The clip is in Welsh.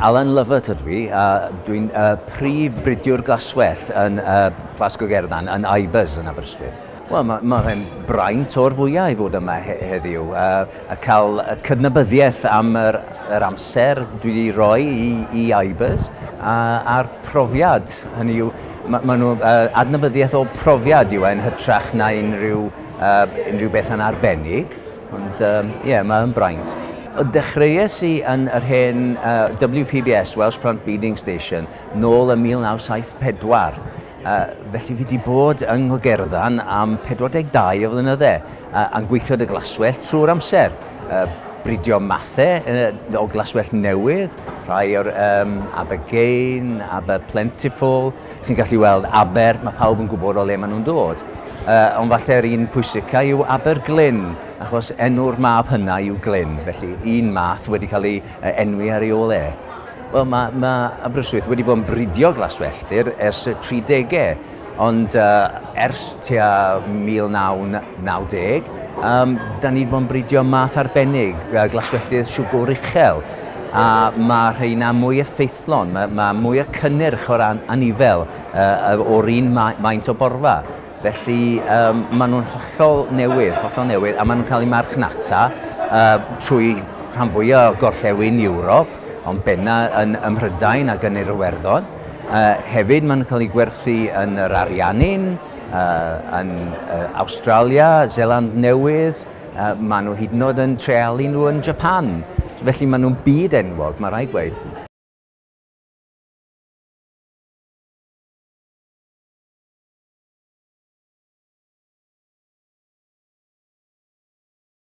Alan Lovett ydw i, a dwi'n uh, prif bridiwr glaswell yn uh, Glasgow Gerdan, yn Ibers yn Aberystwyth. Wel, mae ma fe'n braint o'r fwyau i fod yma he heddiw, uh, a cael y cydnabyddiaeth am yr, yr amser dwi wedi rhoi i, i Ibers, a, a'r profiad, hynny yw, mae ma nhw uh, adnabyddiaeth o profiad yw e'n hytrach na unrhyw uh, unrhyw beth yn arbennig, ond ie, um, yeah, mae yn braint. O dechreuais i yn yr hen uh, WPBS, Welsh Plant Beading Station, nôl yn 1974. Uh, felly fi wedi bod yng Nghogerddan am 42 o flynyddau, uh, a'n gweithio dy glaswell trwy'r amser. Uh, bridio mathau uh, o glaswell newydd, rhai o'r um, Abergain, Aber Plentiful, Chi'n gallu weld Aber, mae pawb yn gwybod o le maen nhw'n dod. Uh, ond falle'r un pwysica yw Aber Glyn, achos enw'r mab hynna yw Glyn, felly un math wedi cael ei enwi ar ei ôl e. Wel, mae, mae Aberystwyth wedi bod yn bridio glaswelltir ers y 30au, ond uh, ers tua 1990, um, da ni wedi bod yn bridio math arbennig, uh, glaswelltir siwgwr uchel, a mae rheina mwy effeithiol Fflon, mae mae mwy o cynnyrch o ran anifail yy o'r un ma- maint o borfa. Felly yym maen nhw'n hollol newydd, hollol newydd, a maen nhw'n cael eu marchnata yy trwy rhan fwya' o gorllewin Ewrop, ond benna' yn ym Mhrydain ac yn yr Iwerddon. Yy hefyd maen nhw'n cael eu gwerthu yn yr Ariannin, yy yn yy Awstralia, Seland Newydd, Maen nhw hyd yn oed yn treialu nhw yn Japan, felly maen nhw'n byd enwog, mae rhaid gweud.